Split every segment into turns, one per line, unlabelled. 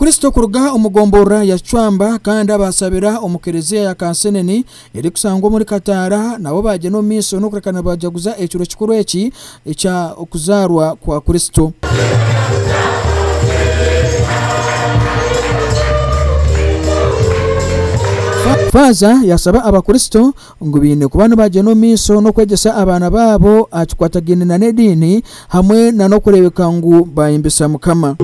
Kristo kuruga omu gomborora ya Kicwamba kandi abaasabira omu kereziya ya Kansenene erikusangwa omuri Kataara nabo baagyenda omu maisho n'okureka nibajaguza ekiro kikuru eki ekya okuzaarwa kwa Kristo. Faaza yaasaba Abakristo ngu baine kuba nibagyenda omu maisho n'okwegyesa abaana baabo aha kikwatagaine na n'ediini hamwe na n'okureebeka ngu baayembesa Mukama.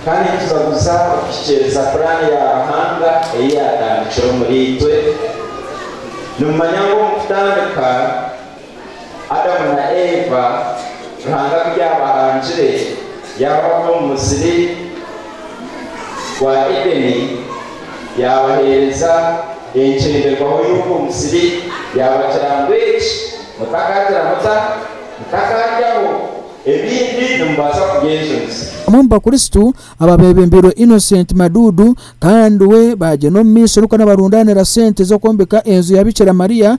Kandi nitubaguza okuhikiiriza puraani ya Ruhanga ei yaatandikire omuriitwe. Nimumanya ngu omu kutandika, Adamu na Eva Ruhanga ku yaabarangire yaabata omu musiri gwa Edeni, yaabaheereza enkyenderwaho y'ogwo musiri, yaabagira ngu, Eki mutakagira muta? Mutakaaryaho, ebindi nimubaasa kubyejunisa. Omwe omu bakristo
aba beebembeirwe Innocent Madudu kandi we baagyenda omu maisho nikwo nabarundaanira sente z'okwombeka enju ya Bikira Maria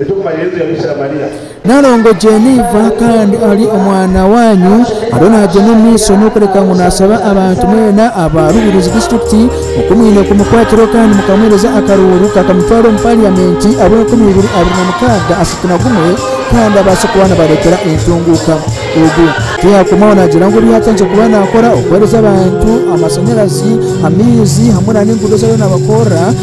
Eky'okumanya Yesu yari Bikira
Mariya. Nalongo Jennifer kandi ari omwana wanyu ariyo nagyenda omu maiso n'okureka ngu nasaba abantu mwena aba Rubirizi Disiturikiti oku mwine kumukwatireho kandi mukamuhereza akaruuru kakamutwara omu Pariyamenti abwe enkumi ibiri abiri na mukaaga asatu na gumwe kandi abaase kuba nabaretera entunguuka. Ogu. Tiyakomaho nagira ngu ebyatandikire kuba nakora okuhereza abantu amashanyarazi, amaizi hamwe na n'enguudo ezi ariyo nabakorera,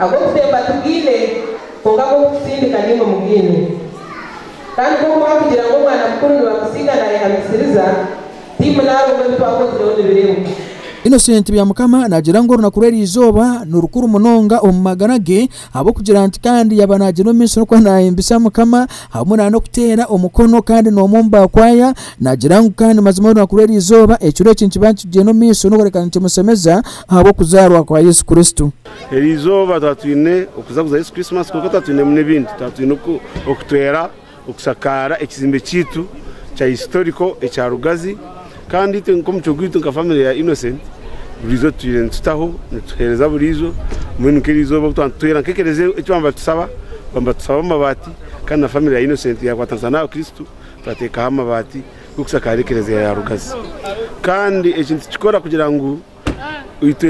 Ag'okusemba tigaine, kwonka ag'okutsindika naimwe mugaine. Kandi ku okuba kugira ngu omwana mukuru nibamusiiga naayehamisiriza, tiimwe naarwo ngu ebi twakozireho nibireebuka? Innocent
Byamukama naagira ngu orunaku rw'eri izooba ni rukuru munonga omu magara ge ahabw'okugira nti kandi yaaba naagira omu maisho n'okuba naahimbisa Mukama hamwe na n'okuteera omukono kandi n'omwe omu baakwaaya naagira ngu kandi mazima orunaku rw'eri izooba ekiro eki nikiba nikigyenda omu maisho n'okureka nikimushemeza ahabw'okuzaarwa kwa Yesu Kristo. Eri eizooba twaba
twine okuzaguza Yesu Krisimasi kwonka twaba twinemu n'ebindi. Twaba twine okutwera okushakaara ekizimbe kyaitu kya Historical ekya Rugazi kandi itwe nk'omucwe gwaitu nka famire ya Innocent buriizo tutaire nitutaho nituheereza buriizo mbwenu nk'eri eizooba obu twaba nitutwera nk'ekereziya eki twaba nibatusaba twaba nibatusaba amabaati kandi na famire ya Innocent yaakwatanisa n'aha Kristo twateekaho amabaati N'okushakaara ekereziya ya Rugazi. Kandi eki nitukikora kugira ngu itwe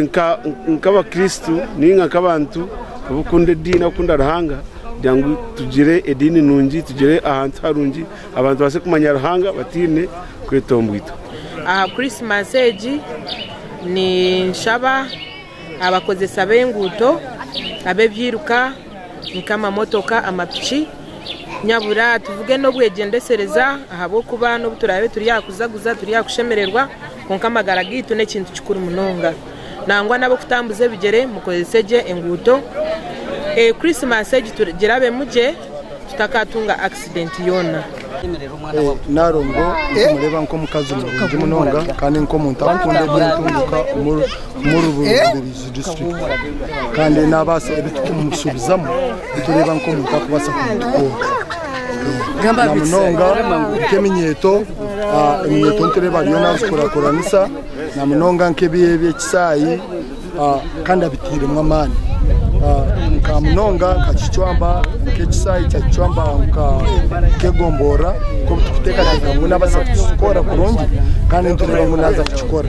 nk'abakristo ninga nk'abantu abakunda ediini abakunda Ruhanga kugira ngu tugire ediini nungi tugire ahantu harungi abantu babaase kumanya Ruhanga bataine kwetombwitwa. Aha Krisimasi
egi ninshaba abakozesa b'enguuto, ab'ebyiruka, nk'amamotoka, amapiki nyabura tuvuge n'obwegyendesereza ahabw'okuba n'obu turaabe turi aha kuzaguza turi aha kushemererwa kwonka amagara gaitu n'ekintu kikuru munonga nangwa n'ab'okutambuza ebigyere mukozese gye enguuto Krisimasi egi girabeemu gye. tutakatunga accident yoona.
Narongo nitumureba nk'omukazi murungi munonga kandi nk'omuntu akunda ebyentunguka omuri Rubirizi district kandi nabaasa ebitukumushubizamu nitureba nk'omuntu arikubaasa kumutukoora namunonga nk'eminyeeto eminyeeto nitureba ariyo nazikurakuranisa namunonga nk'ebi ebi ekisaayi. kandi abitairemu amaani nka munonga nka kicwamba nka ekisaayi kya kicwamba nka kegomborora nk'obu turikuteekateeka ngu naabaasa kukikora kurungi kandi nitureeba ngu naaza kukikora